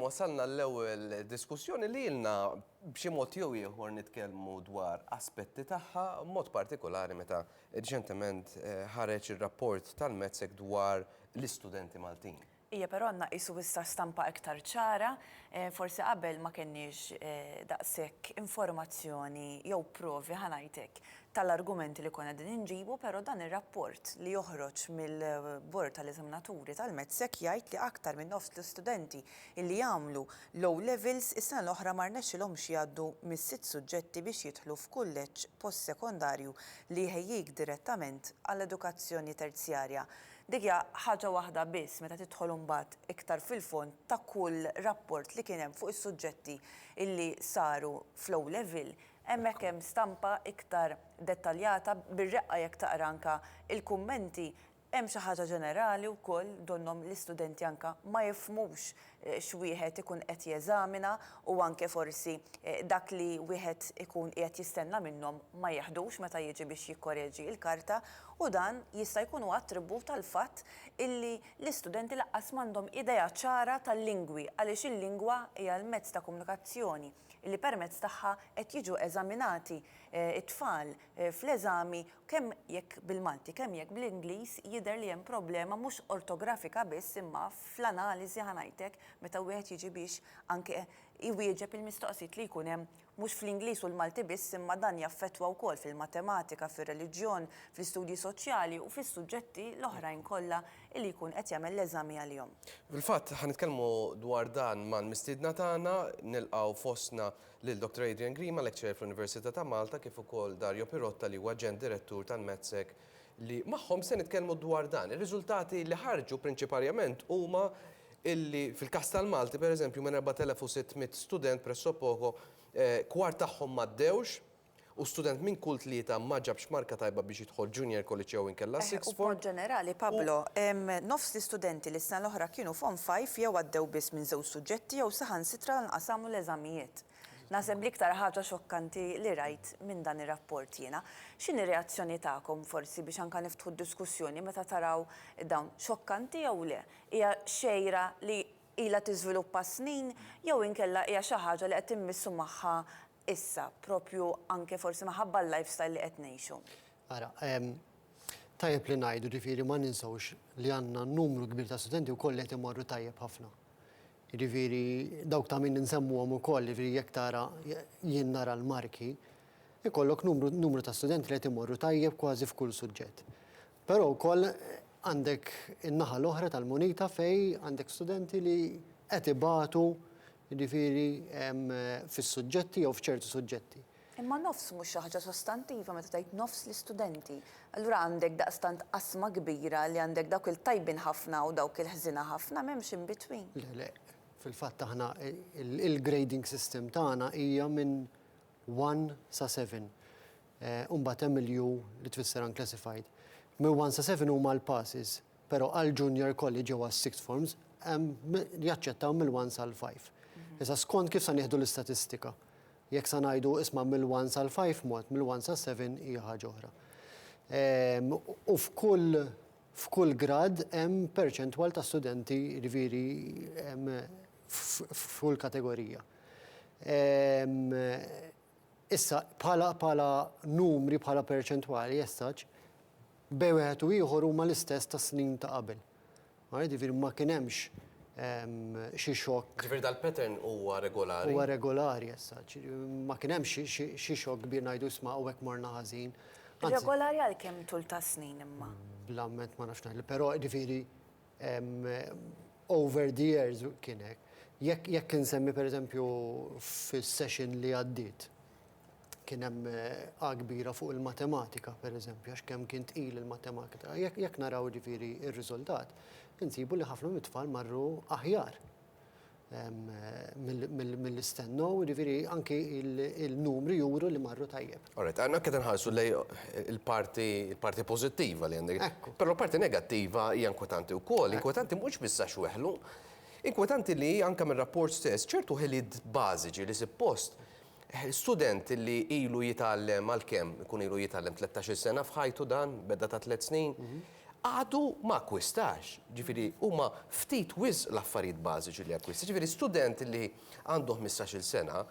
Wasalna għall-ewwel diskussjoni li ilna b'xi mod jew ieħor nitkellmu dwar aspetti tagħha, b'mod partikolari meta riċentement ħareġ ir-rapport tal-METSEC dwar l-istudenti Maltin. Ija, però għandna qisu issa stampa iktar ċara. Forsi qabel ma kenniex daqshekk informazzjoni jew provi, ħa ngħid hekk, tal-argumenti li konna qegħdin inġibu, però dan ir-rapport li joħroġ mill-Bord tal-Eżaminaturi tal-METSEC jgħid li aktar minn nofs l-istudenti li għamlu l-O-Levels is-sena l-oħra ma rnexxilhomx jgħaddu mis-sitt suġġetti biex jidħlu f'kulleġġ postsekondarju li jħejjik direttament għall-edukazzjoni terzjarja. Dik hija ħaġa waħda biss, meta tidħol imbagħad iktar fil-fond ta' kull rapport li kien hemm fuq is-suġġetti li saru fl-O-Level, Hemmhekk hemm stampa iktar dettaljata, bir-reqqa jekk taqra anke l-kummenti hemm xi ħaġa ġenerali wkoll donnhom l-istudenti anke ma jifhmux x'wieħed ikun qed jeżamina u anke forsi dak li wieħed ikun qiegħed jistenna minnhom ma jiħdux meta jiġi biex jikkoreġi l-karta u dan jista' jkun huwa attribut għall-fatt illi l-istudenti laqqas m'għandhom idea ċara tal-lingwi għaliex il-lingwa hija l-mezz ta' komunikazzjoni li permezz tagħha qed jiġu eżaminati t-tfal fl-eżami kemm jekk bil-Malti, kemm jekk bl-Ingliż, jidher li hemm problema mhux ortografika biss imma fl-analiżi ħa ngħidlek meta wieħed jiġi biex anke iwieġeb il-mistoqsijiet li jkun hemm mhux fl-Ingliż u l-Malti biss imma dan jaffettwa wkoll fil-matematika, fir-reliġjon, fl-istudji soċjali u fis-suġġetti l-oħrajn kollha li jkun qed jagħmel l-eżami għalihom. Fil-fatt, ħa nitkellmu dwar dan mal-mistiedna tagħna, nilqgħu fostna lil Dr. Adrian Grima, lecturer fl-Università ta' Malta, kif ukoll Dario Pirotta li huwa Aġent Direttur tal-MedSec li magħhom se nitkellmu dwar dan. Ir-riżultati li ħarġu prinċiparjament huma illi fil-każ tal-Malti pereżempju minn 4,600 student pressopoko eh, kwart tagħhom m'għaddewx u student minn kull tlieta ma ġabx marka tajba biex jidħol Junior College jew inkella Eħe, Sixth u b'mod Form. ġenerali, Pablo, nofs l-istudenti li s-sena l-oħra kienu Form Five jew għaddew biss minn żewġ suġġetti jew saħansitra lanqas għamlu l-eżamijiet. Naħseb l-iktar ħaġa xokkanti li rajt minn dan ir-rapport jiena. X'inhi r-reazzjoni tagħkom, forsi, biex anke niftħu d-diskussjoni meta taraw dawn? Xokkanti jew le? Hija xejra li ilha tiżviluppa s-snin jew inkella hija xi ħaġa li qed immissu magħha issa, proprju anke forsi minħabba l-lifestyle li qed ngħixu? Ara, tajjeb li ngħidu, ġifieri ma ninsewx li għandna numru kbir ta' studenti wkoll li qed imorru tajjeb ħafna. Jiġifieri dawk ta' min insemmuhom ukoll, jiġifieri jekk tara jien nara l-marki, ikollok numru ta' studenti li qed imorru tajjeb kważi f'kull suġġett. Però wkoll għandek in-naħa l-oħra tal-munita fejn għandek studenti li qed ibatu jiġifieri fis-suġġetti jew f'ċerti suġġetti. Imma nofs mhux xi ħaġa sostantiva meta tgħid nofs l-istudenti. Allura għandek daqstant qasma kbira li għandek dawk il-tajbin ħafna u dawk il-ħżiena ħafna m'hemmx in between. Le le. Fil-fatt aħna il-grading system tagħna hija minn one sa seven. u mbagħad hemm il-U li tfisser unclassified. Minn one sa seven huma l-passes, però għall-junior college jew għas-sixth forms hemm jaċċettaw mill-one sal-five. Issa skont kif se nieħdu l-istatistika. Jekk se ngħidu isma' mill-one sal-five mod, mill-one sas-seven hija ħaġa oħra. U f'kull f'kull grad hemm perċentwal ta' studenti jiġifieri f'kull kategorija. Issa, bħala, bħala numri, bħala perċentwali as such, b'Bejgħ Wieħed u Ieħor huma l-istess tas-snin ta' qabel. All right? Jiġifieri ma kien hemmx xi xokk. Jiġifieri dal-pattern huwa regolari? Huwa regolari as such. Ma kien hemmx xi, xi xokk kbir ngħidu isma' hawnhekk morna ħażin. Regolari għal kemm tul tas-snin imma? Bla mment ma nafx ngħidlek, però jiġifieri Over the years kien hekk. Jekk jekk insemmi pereżempju fis-session li għaddiet kien hemm A kbira fuq il-matematika pereżempju għax kemm kien tqil il-matematika. Jekk jekk naraw jiġifieri r-riżultat insibu li ħafna mit-tfal marru aħjar. mill-li stennew, jiġifieri anki il-numri juru li marru tajjeb. All right, aħna qed inħarsu lejn il-parti il-parti pożittiva li għandek. Ekku. Però l-parti negattiva hija inkwetanti wkoll. Inkwetanti mhux biss għax weħlu, inkwetanti li anke mir-rapport stess ċertu ħiliet bażiċi li suppost student li ilu jitgħallem għal kemm ikun ilu jitgħallem tlettax-il sena f'ħajtu dan, beda ta' tliet snin, għadu ma akkwistax. Ġifieri huma ftit wisq l-affarijiet bażiċi li jakkwista. Ġifieri student li għandu ħmistax-il sena,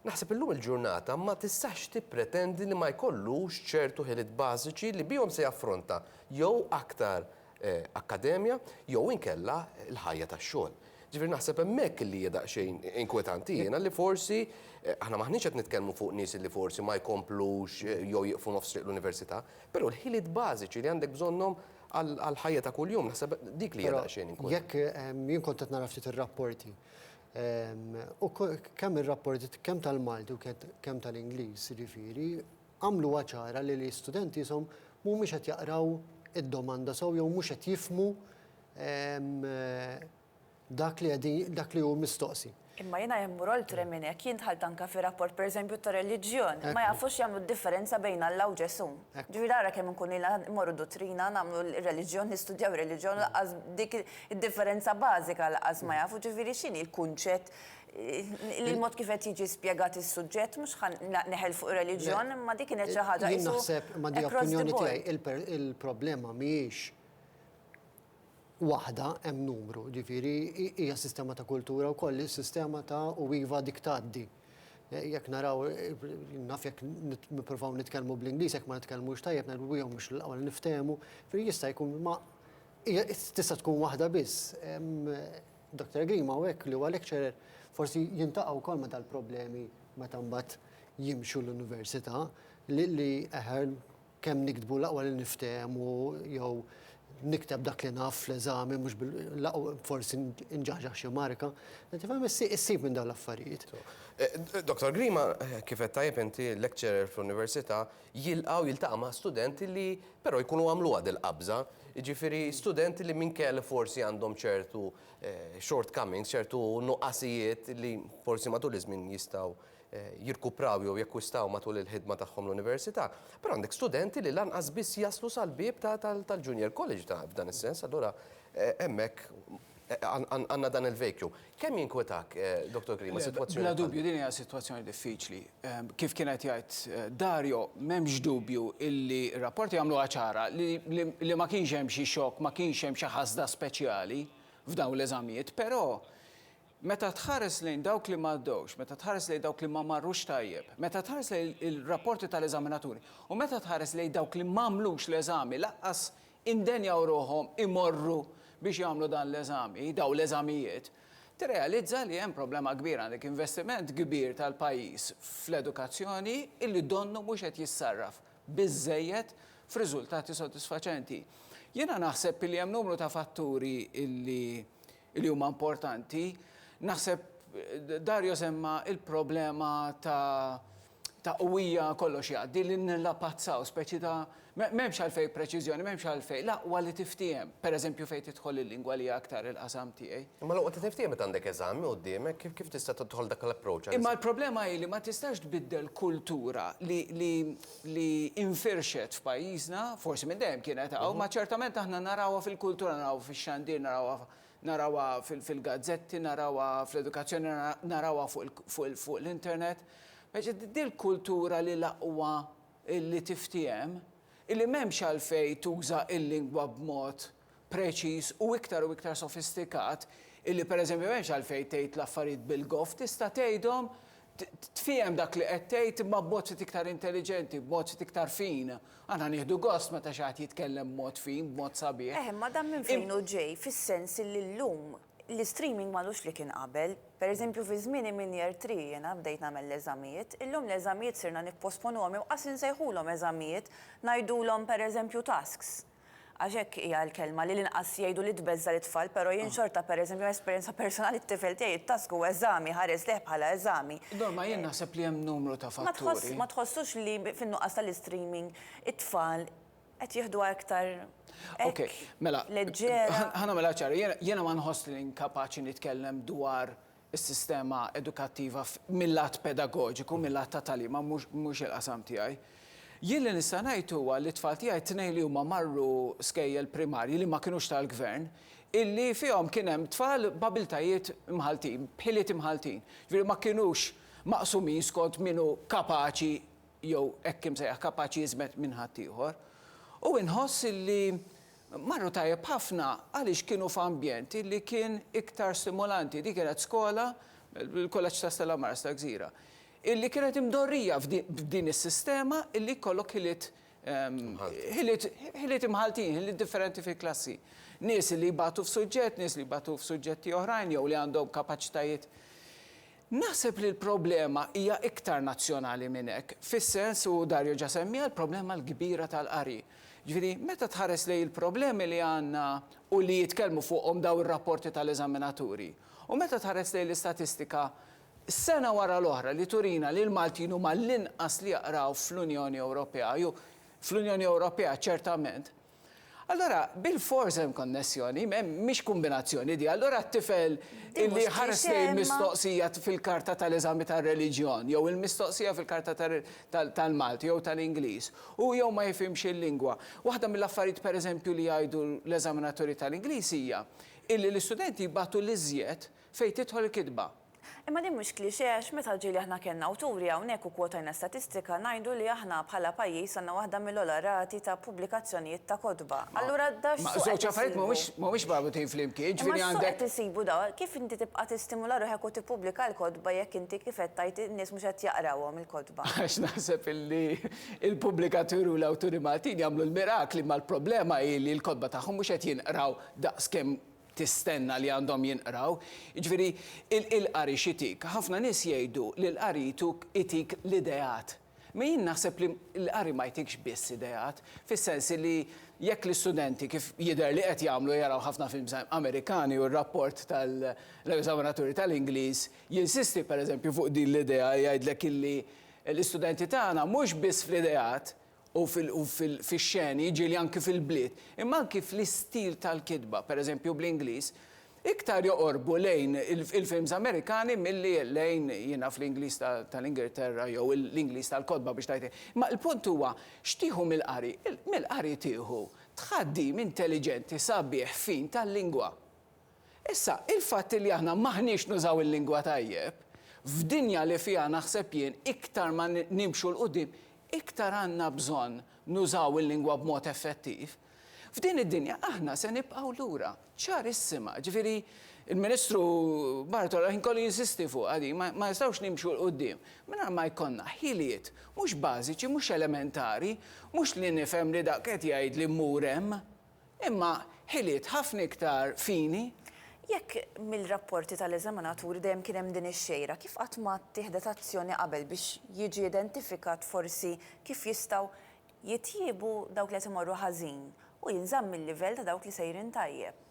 naħseb illum il-ġurnata ma tistax tippretendi li ma jkollux ċertu ħiliet bażiċi li bihom se jaffronta jew aktar akkademja jew inkella l-ħajja tax-xogħol. Ġifieri naħseb hemmhekk li hija daqsxejn inkwetanti jiena li forsi aħna m'aħniex qed nitkellmu fuq nies li forsi ma jkomplux jew jieqfu nofs triq l-università, Però l-ħiliet bażiċi li għandek bżonnhom għall-ħajja ta' kuljum, naħseb dik li hija daqsxejn inkun. Jekk jien kont qed nara ftit ir-rapporti, u kemm ir-rapporti kemm tal-Malti u kemm tal-Ingliż, jiġifieri, għamluha ċara li l-istudenti jisom mhumiex qed jaqraw id-domanda sew jew mhux qed jifhmu dak li qegħdin dak li hu mistoqsi. Imma jiena jekk mmur oltre minn hekk, jien dħalt anke fi rapport pereżempju ta' reliġjon, ma jafux jagħmlu d-differenza bejn Alla u Ġesù. Ġifieri ara kemm inkunu ilna mmorru duttrina, nagħmlu r-reliġjon, nistudjaw ir-reliġjon u lanqas dik id-differenza bażika lanqas ma jafu. Ġifieri x'inhi l-kunċett li l-mod kif qed jiġi spjegat is-suġġett, mhux ħa neħel fuq ir-reliġjon, imma dik kienet xi ħaġa qisu across the board. Jien naħseb, ma' din l-opinjoni tiegħi, il-problema mhijiex waħda, hemm numru, ġifieri hija sistema ta' kultura wkoll, is-sistema ta' u iva dik tgħaddi. Eh, jekk naraw, eh, naf jekk nippruvaw nitkellmu bl-Ingliż, jekk ma nitkellmux tajjeb, ngħidu jew mhux l-ewwel niftehmu, fri jista' jkun ma tista' tkun waħda biss. Dr. Green ma hekk li huwa lecturer forsi jintaqgħu wkoll ma dal-problemi meta mbagħad jimxu l-università li eħer Kemm niktbu l-aqwa li niftehmu jew nikteb dak li naf fl-eżami mhux bil, l-aqwa forsi nġaħġaħ xi marka. Tifhem, issib minn dawn l-affarijiet. Dottor Grima, kif għedt tajjeb inti, lecturer fl-Università jilqa' u jiltaqa' ma' studenti li però jkunu għamluha dil-qabża. Jiġifieri studenti li minkejja li forsi għandhom ċertu shortcomings, ċertu nuqqasijiet li forsi matul iż-żmien jistgħu jirkupraw jew jakkwistaw matul il-ħidma tagħhom l-università, però għandek studenti li lanqas biss jaslu sal-bieb tal-Junior College ta' f'dan is-sens, allura hemmhekk għandna dan il-vacuum. Kemm jinkwetak, Dottor Grima, sitwazzjoni bħal din? Bla dubju din hija sitwazzjoni diffiċli. Kif kien qed jgħid Dario, m'hemmx dubju illi r-rapporti jagħmluha ċara li ma kienx hemm xi xokk, ma kienx hemm xi ħasda speċjali f'dawn l-eżamijiet, però Meta tħares lejn dawk li m'għaddewx, meta tħares lejn dawk li ma marrux tajjeb, meta tħares lejn il-rapporti tal-eżaminaturi, u meta tħares lejn dawk li m'għamlux l-eżami, lanqas indenjaw ruħhom imorru biex jagħmlu dan l-eżami, dawn l-eżamijiet, tirrealizza li hemm problema kbira, għandek investiment kbir tal-pajjiż fl-edukazzjoni li donnu mhux qed jissarraf biżżejjed f'riżultati sodisfaċenti. Jiena naħseb li hemm numru ta' fatturi li li huma importanti. Naħseb Dario semma il-problema ta' ta' qwija kollox jgħaddi li nillapazzaw speċi ta' m'hemmx għalfej preċiżjoni, m'hemmx għalfej l-aqwa li tiftiehem. Pereżempju fejn tidħol il-lingwa li hija aktar il-qasam tiegħi. Imma l-aqwa li tiftiehem meta għandek eżami quddiemek, kif tista' tidħol dak l-approach? Imma l-problema hi li ma tistax tbiddel kultura li li infirxet f'pajjiżna, forsi minn dejjem kienet hawn, ma ċertament aħna narawha fil-kultura, narawha fix-xandir, narawha narawha fil-gazzetti, narawha fl-edukazzjoni, narawha fuq l-internet. Din l-kultura li l-aqwa li tiftiehem, li m'hemmx għalfejn tuża l-lingwa b'mod preċiż u iktar u iktar sofistikat illi pereżempju m'hemmx għalfejn tgħid l-affarijiet bil-goff, tista' tgħidhom, tfiehem dak li qed tgħid imma b'mod ftit iktar intelliġenti, b'mod ftit iktar fin. Aħna nieħdu gost meta xi ħadd jitkellem b'mod fin, b'mod sabiħ. Eh, imma dan minn fejn hu ġej fis-sens illi llum l-istreaming m'għadux li kien qabel. Pereżempju fi żmieni minn Year Three jiena bdejt nagħmel l-eżamijiet, illum l-eżamijiet sirna nipposponuhom inqas insejħulhom eżamijiet, ngħidulhom pereżempju tasks. Għax hekk hija l-kelma, li l-inqas jgħidu li tbeżża' lit-tfal, però jien xorta pereżempju minn esperjenza personali t-tifel tiegħi it-task huwa eżami, ħares lejh bħala eżami. Norma jien naħseb li hemm numru ta' fatturi. Ma tħossux li fin-nuqqas tal-istreaming it-tfal qed jieħduha iktar hekk leġġera? Okej, mela ħa nagħmilha ċara, jiena ma nħossni inkapaċi nitkellem dwar is-sistema edukattiva mil-lat pedagoġiku, mil-lat ta' tagħlim, ma mhux il-qasam tiegħi. Jien li nista' ngħid huwa li t-tfal tiegħi t-tnejn li huma marru skejjel primarji li ma kinux tal-gvern, illi fihom kien hemm tfal b'abiltajiet imħalltin, b'ħiliet imħalltin. Ġifieri ma kinux maqsumin skont min hu kapaċi jew hekk imsejjaħ kapaċi jiżmed minn ħaddieħor. U inħoss illi Marru tajjeb ħafna għaliex kienu f'ambjent illi kien iktar stimulanti. Dik kienet skola, il-Kulleġġ ta' Stella Maris tal-Gżira, illi kienet imdorrija f'din is-sistema illi jkollok ħiliet ħiliet imħalltin, ħiliet differenti fil-klassi. Nies illi jbatu f'suġġett, nies li jbatu f'suġġetti oħrajn jew li għandhom kapaċitajiet. Naħseb li l-problema hija iktar nazzjonali minn hekk, fis-sens, u Dario ġa semmiha, l-problema l-kbira tal-qari. Jiġifieri, meta tħares lejn il-problemi li għandna u li jitkellmu fuqhom dawn ir-rapporti tal-eżaminaturi, u meta tħares lejn l-istatistika sena wara l-oħra li turina li l-Maltin huma l-inqas li jaqraw fl-Unjoni Ewropea, jew fl-Unjoni Ewropea ċertament, Allura, bilfors hemm konnessjoni, mhix kumbinazzjoni di, allura t-tifel illi ħares lejn mistoqsija fil-karta tal-eżami tar-reliġjon, jew il-mistoqsija fil-karta tal-Malti jew tal-Ingliż, u jew ma jifhimx il-lingwa. Waħda mill-affarijiet pereżempju li jgħidu l-eżaminaturi tal-Ingliż hija illi l-istudenti jbatu l-iżjed Fejn tidħol il-kitba? Imma din mhux cliché għax meta ġieli aħna kellna awturi hawnhekk u kwotajna statistika ngħidu li aħna bħala pajjiż għandna waħda mill-ogħla rati ta' pubblikazzjonijiet ta' kotba. Allura da x'suq qed isibu? Ma żewġ affarijiet mhumiex mhumiex marbutin flimkien, jiġifieri għandek. Imma x'suq qed isibu da? Kif inti tibqa' tistimula ruħek u tippubblika l-kotba jekk inti kif qed tgħid in-nies mhux qed jaqrawhom il-kotba? Għax naħseb illi l-pubblikaturi u l-awturi Maltin jagħmlu l-mirakli imma l-problema hi li l-kotba tagħhom mhux qed jinqraw daqs kemm tistenna li għandhom jinqraw. Jiġifieri il-qari x'itik? Ħafna nies jgħidu li l-qari jtuk itik l-ideat. Imma jien naħseb li l-qari ma jtikx biss ideat, fis-sens li jekk l-istudenti kif jidher li qed jagħmlu jaraw ħafna films Amerikani u r-rapport tal-eżaminaturi tal-Ingliż jinsisti pereżempju fuq din l-idea jgħidlek illi l-istudenti tagħna mhux biss fl-ideat u fix-xeni, jiġieli anki fil-bliet, imma anki fl-istil tal-kitba, pereżempju bl-Ingliż, iktar joqorbu lejn il-films Amerikani milli lejn, jien naf, l-Ingliż tal-Ingilterra jew l-Ingliż tal-kotba biex tgħid hekk. Imma l-punt huwa, x'tieħu mill-qari? Mill-qari tieħu tħaddim intelliġenti, sabiħ, fin tal-lingwa. Issa, il-fatt li aħna m'aħniex nużaw il-lingwa tajjeb, f'dinja li fiha naħseb jien iktar ma nimxu 'l quddiem, iktar għandna bżonn nużaw il-lingwa b'mod effettiv. F'din id-dinja aħna se nibqgħu lura, ċarissima. Ġifieri, il-Ministru Bartolo l-ħin kollu jinsisti fuqha din, ma ma nistgħux nimxu 'l quddiem mingħajr ma jkollna ħiliet mhux bażiċi, mhux elementari, mhux li nifhem li dak qed jgħidli mmur hemm. Imma ħiliet ħafna iktar fini. Jekk mill-rapporti tal-eżaminaturi dejjem kien hemm din ix-xejra, kif qatt ma ttieħdet azzjoni qabel biex jiġi identifikat forsi kif jistgħu jitjiebu dawk li qed imorru ħażin u jinżamm il-livell ta' dawk li sejrin tajjeb?